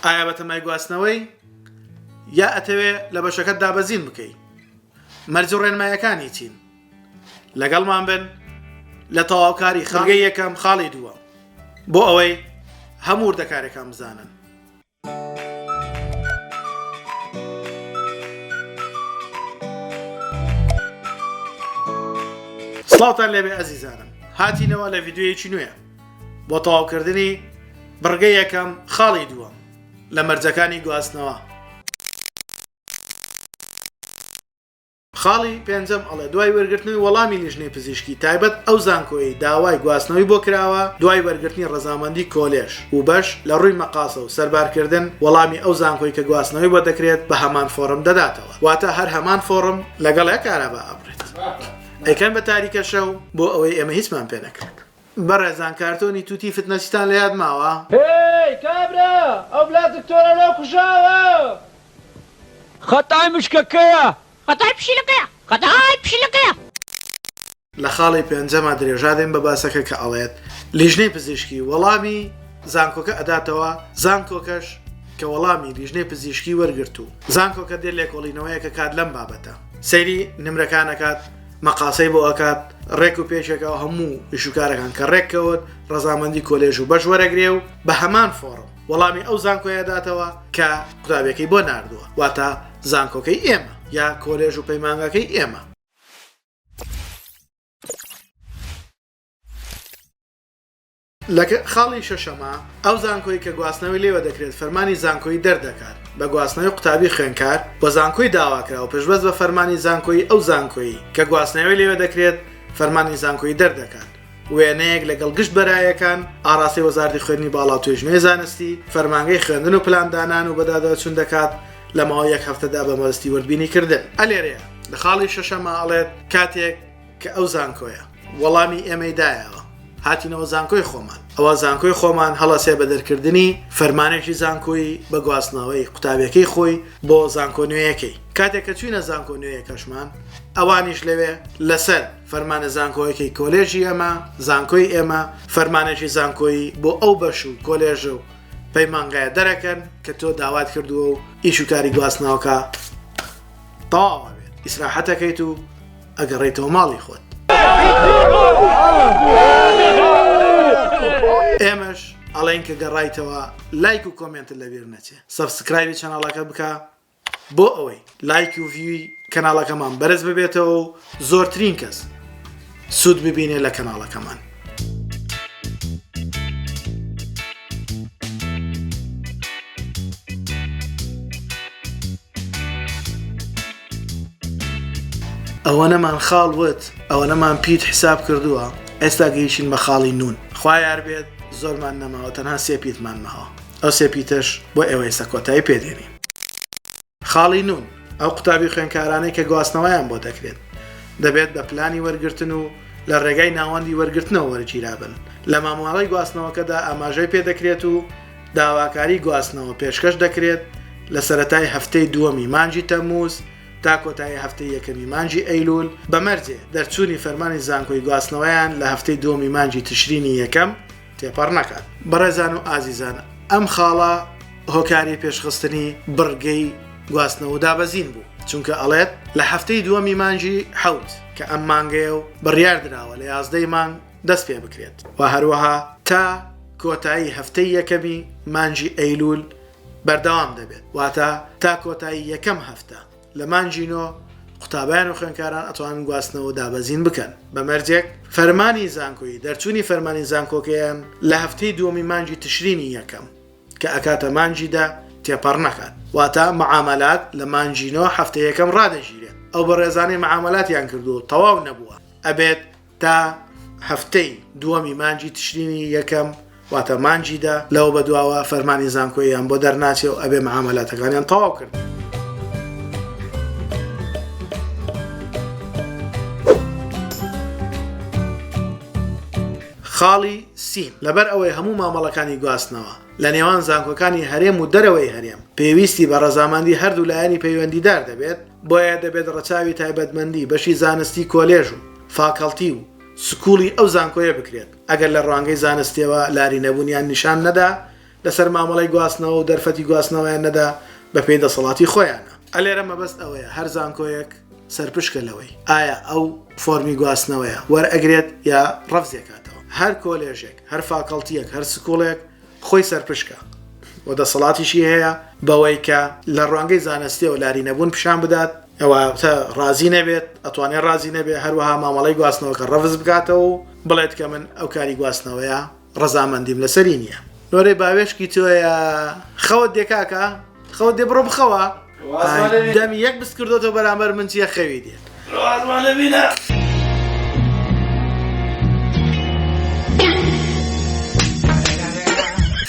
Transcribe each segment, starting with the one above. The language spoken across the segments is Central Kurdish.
ئایا بەتەمای گواستنەوەی یا ئەتەوێ لە بەشەکەت دابەزین بکەی مەرج و ڕێنمایەکانی چین لەگەڵمان بن لە تەواوکاری خاڵی یەکەم خاڵی دووە بۆ ئەوەی هەموو وردەکارەکان بزانن سڵاوتان لێبێ ئەزیزانم هاتینەوە لە ڤیددیویەکی نوێ بۆ تەواوکردنی بڕگەی یەکەم خاڵی دووەم لە مەرجەکانی گواستنەوە. خاڵی پێنجەم ئەڵێ دوای وەرگرتنەوەی وەڵامی لیژنەی پزیشکی تایبەت ئەو زانکۆیەی داوای گواستنەوەی بۆ کراوە دوای وەرگرتنی ڕەزامەندی کۆلێژ و بەش لە ڕووی مەقاسە و سەربارکردن وەڵامی ئەو زانکۆی کە گواستنەوەی بۆ دەکرێت بە هەمان فۆڕم دەداتەوە واتە هەر هەمان فۆڕم لەگەڵ ئە کارابا ئەبڕێت ئەیکەن بە تاریکە شەو بۆ ئەوەی ئێمە هیچمان پێ نەکرێت. بەڕێزان کارتۆنی توتی فتنەچیتان لە یاد ماوە؟ هێی کابرا ئەو بلا دکتۆرە لۆ کوژاوە. خەتای مشکە کەیە؟ خەتای پشیلە کەیە؟ خەتای پشیلە کەیە؟ لە خاڵی پێنجەما درێژا دەین بە باسەکە کە ئەڵێت لیژنەی پزیشکی وەڵامی زانکۆکە ئەداتەوە زانکۆکەش کە وەڵامی لیژنەی پزیشکی وەرگرت و زانکۆکە دێت لێکۆڵینەوەیەکەکات لەم بابەتە سەیری نمرەکانەکات مەقاسەی بۆ ئەکات ڕێک و پێشێکەوە هەموو ئیشوکارەکان کە ڕێک کەوت ڕەزامەندی کۆلێژ و بەش وەرەگرێ و بە هەمان فۆڕم وەڵامی ئەو زانکۆیە داتەوە کە قوتابیەکەی بۆ ناردووە واتە زانکۆکەی ئێمە یا کۆلێژ و پەیمانگاکەی ئێمە. لە خاڵی شەشەما، ئەو زانکۆی کە گواستنەوەی لێوە دەکرێت فەرمانی زانکۆیی دەردەکات بە گواستنەوەی قوتابی خوێندکار بۆ زانکۆی داواکراو پشتبەست بە فەرمانی زانکۆیی ئەو زانکۆی کە گواستنەوەی لێوە دەکرێت فەرمانی زانکۆیی دەردەکات وێنەیەک لەگەڵ گشت بەرایەکان ئاڕاستەی وەزارەتی خوێندنی باڵا و توێژینەوەی زانستی فەرمانگەی خوێندن و پلاندانان و بەداداچوون دەکات لە ماوەی یەک هەفتەدا بە مەبەستی وردبینیکردن ئەلێرەیە لە خاڵی شەشەما ئەڵێت کاتێک کە ئەو زانکۆیە وەڵامی ئێمەی دایەوە هاتینەوە زانکۆی خۆمان ئەوە زانکۆی خۆمان هەڵەسێ بە دەرکردنی فەرمانێکی زانکۆی بە گواستنەوەی قوتابەکەی خۆی بۆ زانکۆ نوێیەکەی کاتێک کە چوینە زانکۆ نوێیەکەشمان ئەوانیش لەوێ لەسەر فەرمانە زانکۆیەکەی کۆلێژی ئەمە زانکۆی ئێمە فەرمانێکی زانکۆیی بۆ ئەو بەش و کۆلێژ و پەیمانگایە دەرەکەن کە تۆ داوات کردووە و ئیش و کاری گواستناوکە تاوە بێت ئیسراحەتەکەیت و ئەگەڕێیتەوە ماڵی خۆت. ئێمەش ئەڵێن کە گەڕایتەوە لایک و کۆمێنتت لەبیر نەچێ سەبسکرایبی چەناڵەکە بکە بۆ ئەوەی لایکی و ڤیوی کەناڵەکەمان بەرز ببێتەوە و زۆرترین کەس سوود ببینێ لە کەناڵەکەمان ئەوەنەمان خاڵ وت ئەوەنەمان پیت حساب کردووە ئێستا گەیشین بە خاڵی نون خوایار بێت زۆرمان نەماوە تەنها سێ پیتمان ماوە ئەو سێ پیتەش بۆ ئێوە ئێستا کۆتایی پێدێنین خاڵی نۆ، ئەو قوتابی خوێندکارانەی کە گواستنەوەیان بۆ دەکرێت، دەبێت بە پلانی وەرگرتن و لە ڕێگای ناوەندی وەرگرتنەوە وەرگیرابن، لە مامەڵەی گواستنەوەکەدا ئاماژەی پێ دەکرێت و داواکاری گواستنەوە پێشکەش دەکرێت لە سەرەتای هەفتەی دووەمی مانگی تەمموز تا کۆتایی هەفتەی یەکەمی مانگی ئەیلول، بە مەرجێ دەرچوونی فەرمانی زانکۆی گواستنەوەیان لە هەفتەی دووەمی مانگی تشرینی یەکەم. تێپەڕ نەکات بەڕێزان و ئازیزان ئەم خاڵە هۆکاری پێشخستنی بڕگەی گواستنەوە و دابەزین بوو چونکە ئەڵێت لە هەفتەی دووەمی مانجی حەوت کە ئەم مانگەیە و بڕیار دراوە لە یازدەی مانگ دەست پێ بکرێت و هەروەها تا کۆتایی هەفتەی یەکەمی مانجی ئەیلول بەردەوام دەبێت واتە تا کۆتایی یەکەم هەفتە لە مانگی نۆ قوتابیان و خوێندکاران ئەتوانن گواستنەوە دابەزین بکەن بە مەرجێک فەرمانی زانکۆیی دەرچوونی فەرمانی زانکۆکەیان لە هەفتەی دووەمی مانگی تشرینی یەکەم کە ئەکاتە مانگی دە تێپەڕ نەکات واتا معاملات لە مانگی نۆ هەفتەیەکەم ڕادەگیرێت ئەو بەڕێزانەی معاملاتیان کردو تەواو نەبووە ئەبێت تا هەفتەی دووەمی مانجی تشرینی یەکەم واتە مانجیدا لەوە بەدواوە فەرمانی زانکۆیان بۆ دەرناچێ و ئەبێ معاملاتەکانیان تەواو کرد. خاڵی سی لەبەر ئەوەی هەموو مامەڵەکانی گواستنەوە لە نێوان زانکۆکانی هەرێم و دەرەوەی هەرێم پێویستی بە ڕەزاماندی هەردوو لایەنی پەیوەندیدار دەبێت بۆیە دەبێت ڕەچاوی تایبەتمەندی بەشی زانستی کۆلێژ و فاکەڵتی و سکوڵی ئەو زانکۆیە بکرێت، ئەگەر لە ڕوانگەی زانستیەوە لاری نەبوونیان نیشان نەدا لەسەر مامەڵەی گواستنەوە و دەرفەتی گواستنەوەیان نەدا بەپێی دەسەڵاتی خۆیانە. ئەلێرە مەبەست ئەوەیە هەر زانکۆیەک سەرپشکە لەوەی ئایا ئەو فۆرمی گواستنەوەیە وەرئەگرێت یا ڕەفزیەکاتەوە. هەر کۆلێژێک، هەر فاکەڵتیەک، هەر سکوڵێک خۆی سەرپشکە و دەسەڵاتیشی هەیە بەوەی کە لە ڕوانگەی زانستیەوە لاری نەبوون پیشان بدات ئەوە تە ڕازی نەبێت ئەتوانێت ڕازی نەبێت هەروەها مامەڵی گواستنەوەکە ڕەفز بکاتەوە و بڵێت کە من ئەو کاری گواستنەوەیە ڕزامەندیم لەسەری نییە نۆرەی باوێشکی تۆیە خەوت دێکاکە خەوت دێ بڕۆ بخەوە. دەمی یەک بس کردۆتەوە بەرامبەر من چیە خەوی دێت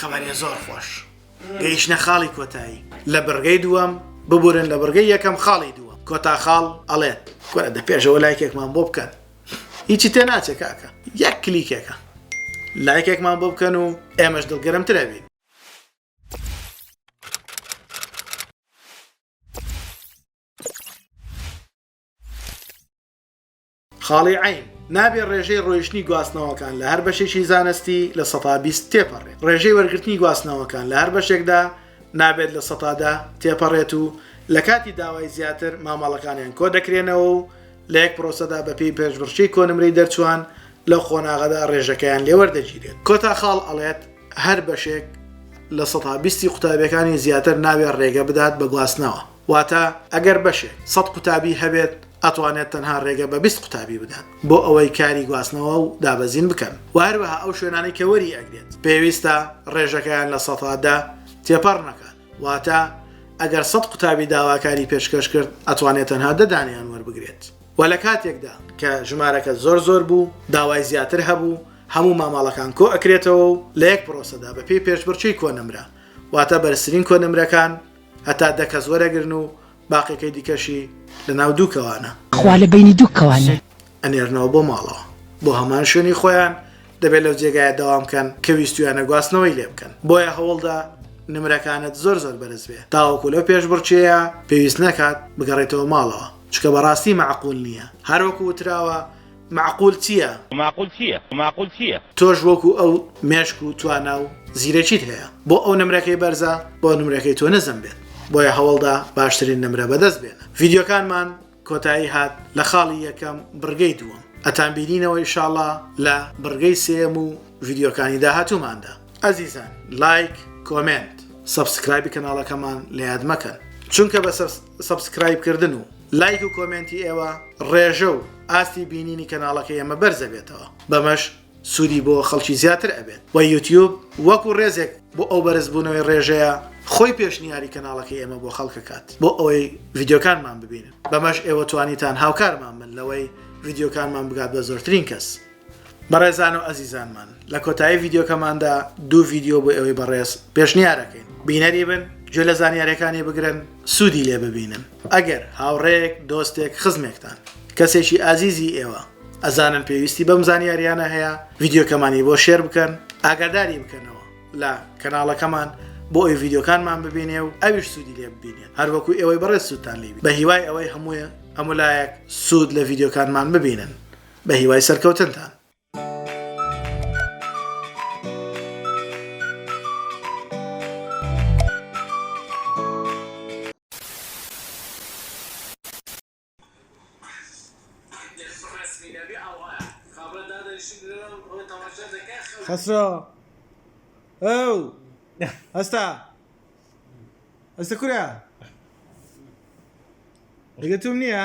خەبارە زۆر خۆش گەیشتە خاڵی کۆتایی لە بڕگەی دووەم ببورن لە بڕگەی یەکەم خاڵی دووە کۆتا خاڵ ئەڵێت کورە دە پێشەوە لایکێکمان بۆ بکەن هیچی تێ ناچێ کاکە یەک کلیکێکە لایکێکمان بۆ بکەن و ئێمەش دڵگەرمترەبین خاڵی عین نابێ ڕێژەی ڕۆیشتنی گواستنەوەکان لە هەر بەشێکی زانستی لە سەتا بیست تێپەڕێت ڕێژەی وەرگرتنی گواستنەوەکان لە هەر بەشێکدا نابێت لە سەتادا تێپەڕێت و لە کاتی داوای زیاتر مامەڵەکانیان کۆ دەکرێنەوە و لە یەک پرۆسەدا بەپی پێشبڕشی کۆنمرەی دەرچوان لە قۆناغەدا ڕێژەکەیان لێوەردەگیرێت کۆتا خاڵ ئەڵێت هەر بەشێک لە سەتا بیستی قوتابیەکانی زیاتر ناوێ ڕێگە بدات بە گواستنەوە واتە ئەگەر بەشێ سەد قوتابی هەبێت ئەتوانێت تەنها ڕێگە بە بیست قوتابی بدات بۆ ئەوەی کاری گواستنەوە و دابەزین بکەن و هەروەها ئەو شوێنانەی کە وەری ئەگرێت پێویستە ڕێژەکەیان لە سەتا دە تێپەڕ نەکات واتە ئەگەر سەد قوتابی داواکاری پێشکەش کرد ئەتوانێت تەنها دەدانیان وەربگرێت و لە کاتێکدا کە ژمارەکە زۆر زۆر بوو داوای زیاتر هەبوو هەموو مامەڵەکان کۆ ئەکرێتەوە و لە یەک پرۆسەدا بە پێی پێشبڕکێی کۆنمرە واتە بەرزترین کۆنمرەکان هەتا دە کەس وەرەگرن و باقیەکەی دیکەشی لە ناو دوو کەوانە خوا لە بەینی دوو کەوانە. ئەنێرنەوە بۆ ماڵەوە بۆ هەمان شوێنی خۆیان دەبێت لەو جێگایە دەوام کەن کە ویستویانە گواستنەوەی لێ بکەن بۆیە هەوڵدە نمرەکانت زۆر زۆر بەرز بێ تاوەکو لەو پێشبڕکێیە پێویست نەکات بگەڕێتەوە ماڵەوە چکە بەڕاستی مەعقول نییە هەروەکو وتراوە مەعقول چییە؟ مەعقول چییە؟ مەعقول چییە؟ تۆش وەکو ئەو مێشک و توانا و زیرەکیت هەیە، بۆ ئەو نمرەکەی بەرزە، بۆ نمرەکەی تۆ نزم بێت، بۆیە هەوڵدە باشترین نمرە بەدەست بێنە. ڤیدیۆکانمان کۆتایی هات لە خاڵی یەکەم بڕگەی دووەم، ئەتانبینینەوە ئیشاڵا لە بڕگەی سێیەم و ڤیدیۆکانی داهاتووماندا. ئەزیزان لایک، کۆمێنت، سەبسکرایبی کەناڵەکەمان لە یاد مەکەن، چونکە بە سەبس. سەبسکرایب کردن و لایک و کۆمێنتی ئێوە ڕێژە و ئاستی بینینی کەناڵەکەی ئێمە بەرزەبێتەوە بەمەش سوودی بۆ خەڵکی زیاتر ئەبێت وە یوتیوب وەکو ڕێزێک بۆ ئەو بەرزبوونەوەی ڕێژەیە خۆی پێشنیاری کەناڵەکەی ئێمە بۆ خەڵکەکات بۆ ئەوەی ڤیددیوکانمان ببینن بەمەش ئێوە توانیتان هاوکارمان من لەوەی ڤیددیوکانمان بگات بە زۆرترین کەس. بەڕێزان و ئەزیزانمان لە کۆتایی ڤیددیوکەماندا دوو ڤیددیو بۆ ئەوەی بەڕێز پێشنیارەکەین بینەری بن گوێ لە زانیارەکانی بگرن سوودی لێ ببینن ئەگەر هاوڕێک دۆستێک خزمێکتان کەسێکی ئازیزی ئێوە ئەزانن پێویستی بەم زانیاریانە هەیە ڤیددیوکەمانی بۆ شێر بکەن ئاگاداری بکەنەوە لە کەناڵەکەمان بۆ ئەوی ڤیددیوکانمان ببینێ و ئەویش سوودی لێ ببینێت هەروەکو ئێوەی بەڕێ سووتان لێبی بە هیوای ئەوەی هەموویە هەمولایەک سوود لە ڤیددیوکانمان ببینن بە هیوای سەرکەوتنتان. خەسرۆ ئەو هەستا هەستە کورە ڕگەتوم نییە؟